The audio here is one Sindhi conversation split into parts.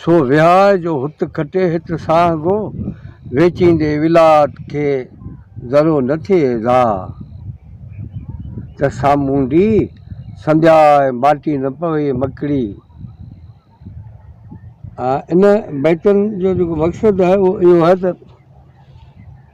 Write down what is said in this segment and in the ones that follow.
سو وهاء جو هت کٽي هت ساهه گو، ويچيندي ولات کي ذرو نه ٿئي ايذاء. ته سامونڊي سندياء ماٽي نه پوي مڪڙي. ان بيتن جو جيڪو مقصد آهي اهو اهو آهي ته.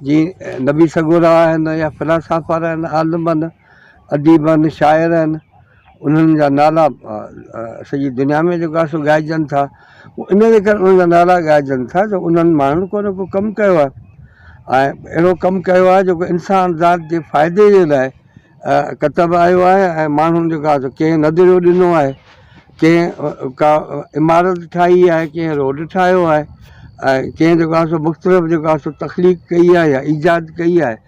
جي نبي سڳورا آهن يا فلاسافر آهن، عالم آهن، اديب آهن، شاعر آهن، انهن جا نالا سڄي دنيا ۾ جيڪو آهي سو ڳائجن ٿا. هو ان جي ڪري انهن جا نالا ڳائجن ٿا جو انهن ماڻهن ڪو نه ڪو ڪم ڪيو آهي ۽ اهڙو ڪم ڪيو آهي جيڪو انسان ذات جي فائدي جي لاء ڪتب آيو آهي ۽ ماڻهن جيڪو آهي سو ڪنهن نظريو ڏنو آهي. ڪنهن ڪا عمارت ٺاهي آهي ڪنهن روڊ ٺاهيو آهي ۽ ڪنهن جيڪو آهي سو مختلف جيڪو آهي سو تخليق ڪئي آهي يا ايجاد ڪئي آهي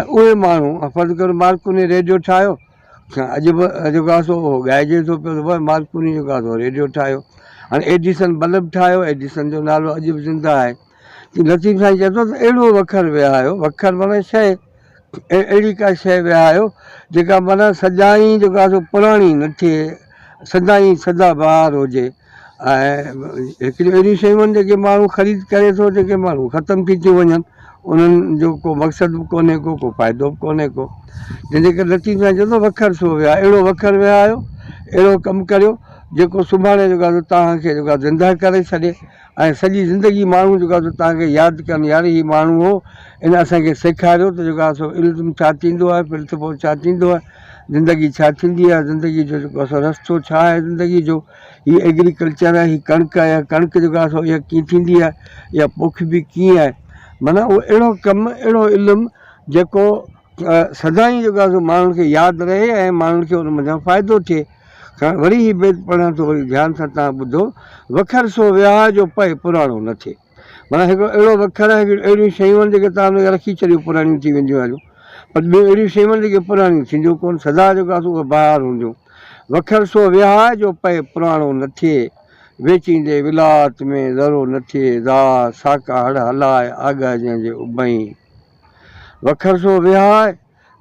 ۽ اهي ماڻهو فرض ڪر مارڪوني ريڊيو ٺاهيو اڄ به جيڪو آهي سو اهو ڳائجي ٿو پيو ته واهه مارڪوني جيڪو آهي سو ريڊيو ٺاهيو هاڻي ايڊيسن بلب ٺاهيو ايڊيسن جو نالو اڄ به زنده آهي لطيف سائين چئي ٿو ته اهڙو وکر وهايو، وکر معنيٰ شيء، اهڙي ڪا شيء وهايو جيڪا معنيٰ سدائين جيڪو آهي سو پراڻي نه ٿئي، سدائين سدا بهار هجي ۽ هڪڙيون اهڙيون شيون آهن جيڪي ماڻهو خريد ڪري ٿو جيڪي ماڻهو ختم ٿي ٿيون وڃن، انهن جو ڪو مقصد به ڪونهي ڪو، ڪو فائدو به ڪونهي ڪو، جنهن جي ڪري لطيف سائين چئي ٿو وکر سو وهايو، اهڙو وکر وهايو، اهڙو ڪم ڪريو جيڪو سڀاڻي جيڪو آهي سو توهان کي جيڪو آهي زندهه ڪري ڇڏي. ۽ سڄي زندگي ماڻهو جيڪو آهي سو توهان کي ياد ڪن يار هي ماڻهو هو ان اسان کي سيکاريو ته جيڪو آهي سو علم ڇا ٿيندو آهي پرنسپل ڇا ٿيندو آهي زندگي ڇا ٿيندي آهي زندگي جو جيڪو آهي سو رستو ڇا آهي زندگي جو هي ايگريڪلچر آهي هي ڪڻڪ آهي اها ڪڻڪ جيڪو آهي سو اها ڪيئن ٿيندي آهي اها پوکبي ڪيئن آهي معنيٰ اهو اهڙو ڪم اهڙو علم جيڪو سدائين جيڪو آهي سو ماڻهن کي ياد رهي ۽ ماڻهن کي ان منجهان فائدو ٿئي کان وري هي بيت پڙهان ٿو وري ڌيان سان تان ٻڌو، وکر سو ويهاء جو پئي پراڻو نه ٿئي. معنيٰ هڪڙو اهڙو وکر آهي جو اهڙيون شيون آهن جيڪي تان هنکي رکي ڇڏيو پراڻيون ٿي وينديون هليون پر ٻيون اهڙيون شيون آهن جيڪي پراڻيون ٿينديون ڪونه سدا جيڪو آسو اهي بهار هونديون وکر سو ويهاء جو پئي پراڻو نه ٿئي ويچيندي ولاءت ۾ ذرو نه ٿئي ذا ساڪا هڙ هلاء آگهه جنهن جي اڀئين وکر سو ويهاء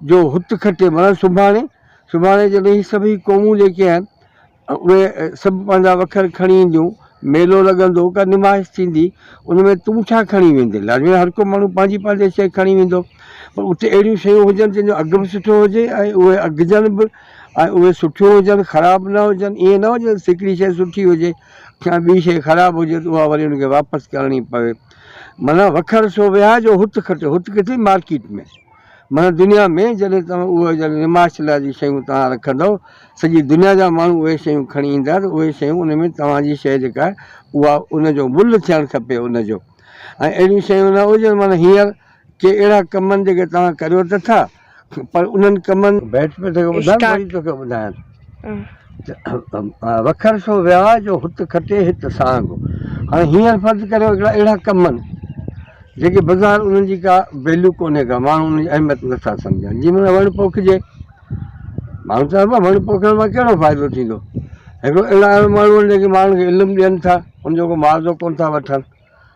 جو هت کٽي معنيٰ سڀاڻي، سڀاڻي جڏهن هي سڀئي قومون جيڪي آهن اهي سڀ پنهنجا وکر کڻي اينديون، ميلو لڳندو، ڪا نمائش ٿيندي، ان ۾ تون ڇا کڻي ويندين؟ لاجوان هر ڪو ماڻهو پنهنجي پنهنجي شيء کڻي ويندو پر اتي اهڙيون شيون هجن جن جو اگهه به سٺو هجي ۽ اهي اگهجن به ۽ اهي سٺيون هجن خراب نه هجن، ائين نه هجي ته هڪڙي شيء سٺي هجي ۽ ٻي شيء خراب هجي ته اها وري ان کي واپس ڪرڻي پوي معنيٰ وکر سو وهاء جو هت کٽي، هت ڪٿي مارڪيٽ ۾. معنيٰ دنيا ۾ جڏهن توهان اهي جن نمائش لاء جي شيون توهان رکندؤ، سڄي دنيا جا ماڻهو اهي شيون کڻي ايندا ته اهي شيون ان ۾ توهان جي شيء جيڪا آهي اها ان جو ملهه ٿيڻ کپي ان جو ۽ اهڙيون شيون نه هجن معنيٰ هينئر ڪي اهڙا ڪم آهن جيڪي توهان ڪريو ته ٿا پر انهن ڪمن. بيٺ پيو توکي ٻڌايان وري توکي ٻڌايان ٿو. وکر سو ويا جو هت کٽي هت سانگ. هاڻي هينئر فرض ڪريو هڪڙا اهڙا ڪم آهن جيڪي بظاهر انهن جي ڪا ويليو ڪونهي ڪا ماڻهو انهن جي اهميت نٿا سمجهن جي معنيٰ وڻ پوکجي ماڻهو چون پيا وڻ پوکڻ مان ڪهڙو فائدو ٿيندو هڪڙو اهڙا اهڙا ماڻهو آهن جيڪي ماڻهن کي علم ڏين ٿا ان جو ڪو معاوضو ڪونه ٿا وٺن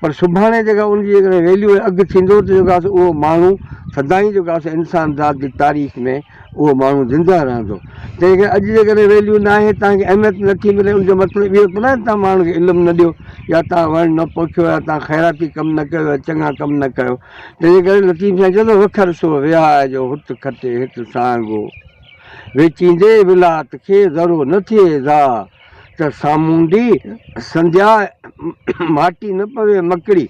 پر سڀاڻي جيڪا ان جي جيڪڏهن ويليو ۽ اگهه ٿيندو ته جيڪو آسي اهو ماڻهو سدائين جيڪو آسي انسان ذات جي تاريخ ۾ اهو ماڻهو زنده رهندو تنهن ڪري اڄ جيڪڏهن ويليو ناهي توهان کي اهميت نٿي ملي ان جو مطلب اهو ته ناهي توهان ماڻهن کي علم نه ڏيو يا توهان وڻ نه پوکيو يا توهان خيراتي ڪم نه ڪيو يا چڱا ڪم نه ڪيو تنهن جي ڪري لطيف سائين چوندو وکر سو وياء جو هت کٽي هت سانگو ويچيندي ولات کي ذرو نه ٿئي ضاء ته سامونڊي سنڌيا ماٽي نه پوي مڪڙي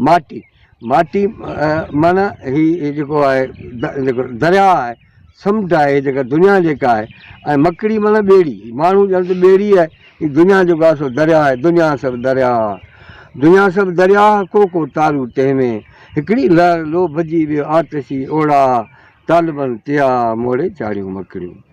ماٽي ماٽي معنيٰ هي جيڪو آهي جيڪو درياء آهي سمنڊ آهي هي جيڪا دنيا جيڪا آهي ۽ مڪڙي معنيٰ ٻيڙي ماڻهو ڄڻ ته ٻيڙي آهي هي دنيا جيڪو آهي سو درياء آهي دنيا سڀ درياء دنيا سڀ درياء ڪو ڪو تارو تنهن ۾ هڪڙي لهر لوڀ جي ويو آتشي اوڙا طالبن تيا موڙي چاڙهيون مڪڙيون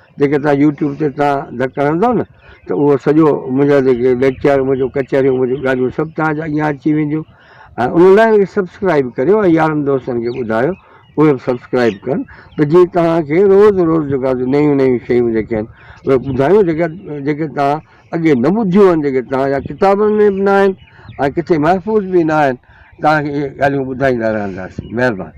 جيڪي توهان يوٽيوب تي توهان ڌڪ هڻندو نه ته اهو سڄو منهنجا جيڪي ليڪچر منهنجو ڪچهريون منهنجو ڳالهيون سڀ توهان جا اڳيان اچي وينديون ۽ ان لاء وي سبسڪرائب ڪريو ۽ يارن دوستن کي ٻڌايو اهي به سبسڪرائب ڪن ته جيئن توهان کي روز روز جيڪا نيون نيون شيون جيڪي آهن اهي ٻڌايو جيڪا جيڪي توهان اڳي نه ٻڌيون آهن جيڪي توهان جا ڪتابن ۾ به نه آهن ۽ ڪٿي محفوظ به نه آهن توهان کي اهي ڳالهيون ٻڌائيندا رهنداسين مهرباني